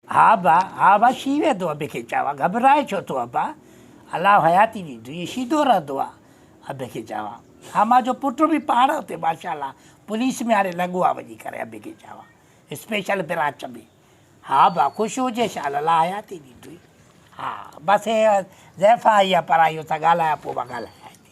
ها ابا، ها ابا شي ويندو ابي کي چاوا گهٻرائين ڇو ٿو ابا، الله حياتي ڏيندو ائين شيدو رهندو آ ابي کي چاوا ها مان جو پٽ به پاڻ اتي ماشاءالله پوليس ۾ هاڻي لڳو آ وڃي ڪري ابي کي چاوا اسپيشل برانچ ۾ ها ابا خوش هجي شال الله حياتي ڏيندوئي ها بس هي زيفا آئي آ پرائي هن سان ڳالهايا پوء مان ڳالهايان ٿي.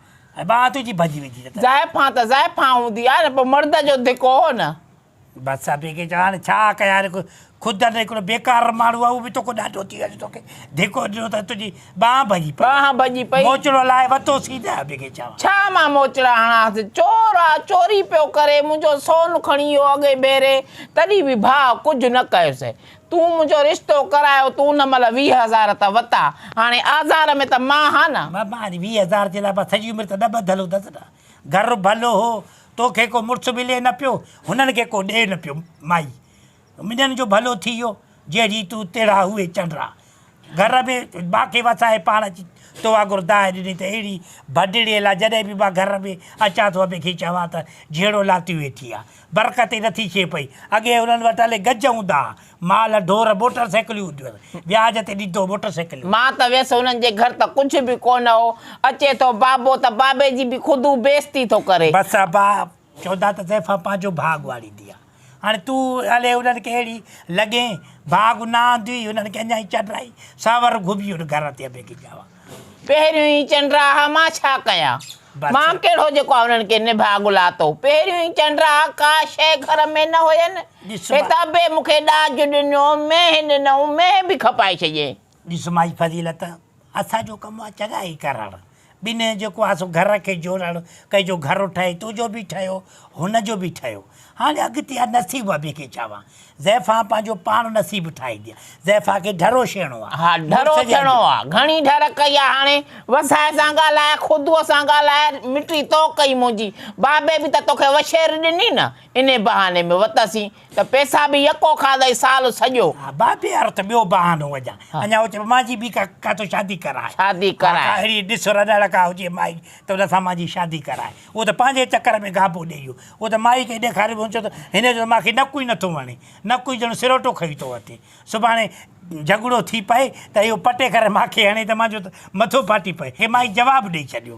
۽ ٻانهن تنهنجي ڀڄي ويندي ته. زائفان ته زائفان هوندي آهي نه، پوء مرد جو ڌڪ هو نه. بس ابي کي چوان هاڻي ڇا ڪيان رک، خود ان هڪڙو بيڪار ماڻهو آهي اهو به توکو ڏاڍو ٿي ويو جو توکي ڌڪو ڏنو ته تنهنجي ٻانهن ڀڄي پئي. ٻانهن ڀڄي پئي. موچڙو لاهي وتو سين ته ابي کي چوان. ڇا مان موچڙا هڻانس، چور آ، چوري پيو ڪري، منهنجو سون کڻي ويو اڳئين ڀيري، تڏهن به ڀاء ڪجهه نه ڪيس. تون منهنجو رشتو ڪرايو تون ان مهل ويهه هزار ته وتا هاڻي آزار ۾ ته مان ها نه. ماما اڄ ويهه هزار جي لاء مان سڄي عمر ته نه ٻڌل هوندس نه گهر ڀلو هو توکي ڪو مڙس ملي نه پيو هنن کي ڪو ڏي نه پيو مائي منجهن جو ڀلو ٿي ويو جهڙي تون تهڙا اهي چنڊرا گهر ۾ باقي وسائي پاڻ اچي تو واگور دانهن ڏني ته اهڙي ڀڏڙيء لاء جڏهن به مان گهر ۾ اچان ٿو ابي کي چوان ته جهيڙو لاتي ويٺي آ. برڪت ئي نٿي ڇي پئي. اڳي هنن وٽ الي گج هوندا ها. مال، ڍور، موٽر سائيڪليون هونديون هيس. وياج تي ڏيندو هو موٽر سائيڪليون. مان ته ويس هنن جي گهر ته ڪجهه به ڪونه هو. اچي ٿو بابو ته بابي جي به خود هو بي عزتي ٿو ڪري. بس ابا! چوندا ته زيفا پنهنجو ڀاڳ واڙيندي آ. هاڻي تون الي انهن کي اهڙي لڳين، ڀاڳ نه آندي انهن کي اڃا ئي چنڊرائي ساور گهمي اٺ گهر تي ابي گجا وا. پهريون ئي چنڊرا ها مان ڇا ڪيان. مان ڪهڙو جيڪو آ انهن کي نڀاڳ لاتو. پهريون ئي چنڊرا ها ڪا شيء گهر ۾ نه هين. هت ابي مون کي ڏاج ڏنو، مينهن ڏنئون، مينهن به کپائي ڇڏيئين. ڏس مائي فضيلت، اسان جو ڪم آ چڱائي ڪرڻ، ٻنهين جو جيڪو آ سو گهر کي جوڙڻ، ڪنهن جو گهر ٺهي، تنهنجو به ٺهيو، هن جو به ٺهيو، هاڻي اڳتي آ نصيب ابي کي ڇا وان، زيفان پنهنجو پاڻ نصيب ٺاهيندي آ، زيفان کي ڍرو شيڻو آ. ها ڍرو شيڻو آ، گهڻي ڍر ڪئي آ، هاڻي وسائي سان ڳالهاء، خدوء سان ڳالهاء، مٽي تو ڪئي منهنجي، بابي به ته توکي وشير ڏني نه، انهي بهاني ۾ وتسين. ته پيسا به يڪو کاڌئي سال سڄو. ها با بي ارٿ ٻيو بهانو وجهان. اڃا هو چئي مانجي به ڪاتو شادي ڪرائي. شادي ڪرائي. ها ڪا اهڙي ڏس رڏڙ ڪا هجي مائي ته ان سان مانجي شادي ڪرائي. اهو ته پنهنجي چڪر ۾ گهاپو ڏئي ويو. اهو ته مائي کي ڏيکاري ويو. هن چيو ته هن جو ته مان کي نڪو ئي نه ٿو وڻي. نڪو ئي ڄڻ سروٽو کئي ٿو اٿي. سڀاڻي جهڳڙو ٿي پئي ته اهو پٽي ڪري مان کي هڻي ته مانجو ته مٿو ڦاٽي پئي. هي مائي جواب ڏئي ڇڏيو.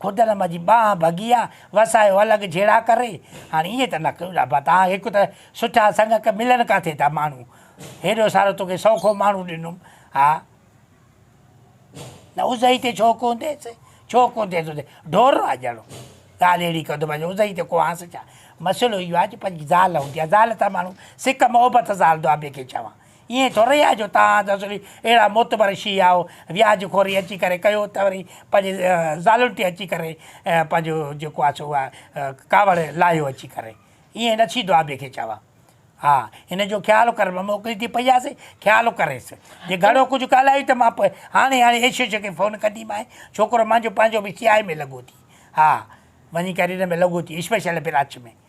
خدعلم جي ٻانهن ڀڳي آ، وسايو الڳ جهيڙا ڪري، هاڻي ائين ته نه ڪيو ڏاڀا تان، هڪ ته سٺا سڱڪ ملن ڪاٿي ٿا ماڻهو، هيڏو سارو توکي سوکو ماڻهو ڏنم، ها نه ازهئي تي ڇو ڪونه ٿيس، ڇو ڪونه ٿيس ازهئي، ڍور آ ڄڻ، ڳالهه اهڙي ڪندو مان چيو ازهئي تي ڪوهانس ڇا، مسئلو اهو آ جو پنهنجي زال هوندي آ، زال سان ماڻهو سڪ محبت سان هلندو آ، ٻئي کي چوان. ائين ٿورئي آهي جو توهان جا سڀئي اهڙا معتبر شيعا آهو، وياج خوري اچي ڪري ڪيو ته وري پنهنجي زالن تي اچي ڪري پنهنجو جيڪو آهي سو اها ڪاوڙ لاهيو اچي ڪري. ائين نه ٿيندو آهي ٻئي کي چوان. ها هن جو خيال ڪر مان موڪلي ٿي پئي آس خيال ڪريس. جي گهڻو ڪجهه ڳالهايو ته مان هاڻي هاڻي ايشيش کي فون ڪنديمانء. ڇوڪرو مانجو پنهنجو به سي آء اي ۾ لڳو ٿي. ها وڃي ڪري ان ۾ لڳو ٿي اسپيشل برانچ ۾.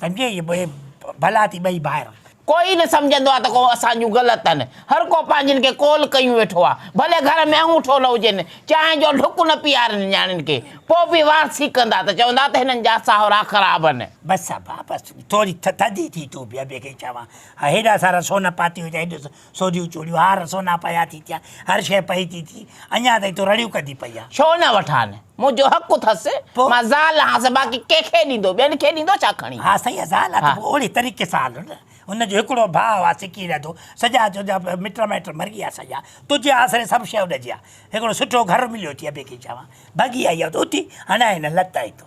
سمجهي يا بي بلا ٿي ٻئي ڀائر. ڪوئي نه سمجهندو آ ته ڪو اسان جون گل تن. هر ڪو پنهنجين کي ڪول ڪيون ويٺو آ. ڀلي گهر ۾ اڱوٺو نه هجين. چانهه جو ڍڪ نه پيارين نياڻين کي. پو به وار سيڪندا ته چوندا ته هنن جا ساهرا خراب ان. بس ابا بس ٿوري ٿڌي ٿي ٿو به ابي کي چوان ها هيڏا سارا سون پاتي هجا هيڏو سوڍيون چوڙيون هار سونا پيا ٿي ٿيا، هر شيء پئي ٿي ٿي، اڃا تائين تون رڙيون ڪندي پئي آهين. ڇو نه وٺان، منهنجو حق اٿس، پوء؟ مان زال آهانس، باقي ڪنهن کي ڏيندو، ٻين کي ڏيندو ڇا کڻي؟ ها سائين اها زال آهي ته پوء اهڙي طريقي سان هل نه، هن جو هڪڙو ڀاء آهي سڪي رهندو، سڄا تنهنجا مٽ مائٽ مري ويا سڄا، تنهنجي آسري سڀ شيء اڏجي ويا، هڪڙو سٺو گهر مليو ٿي ابي کي چوان، ڀڳي آئي آهيان ته اٿي هڻيان هن لت هتو.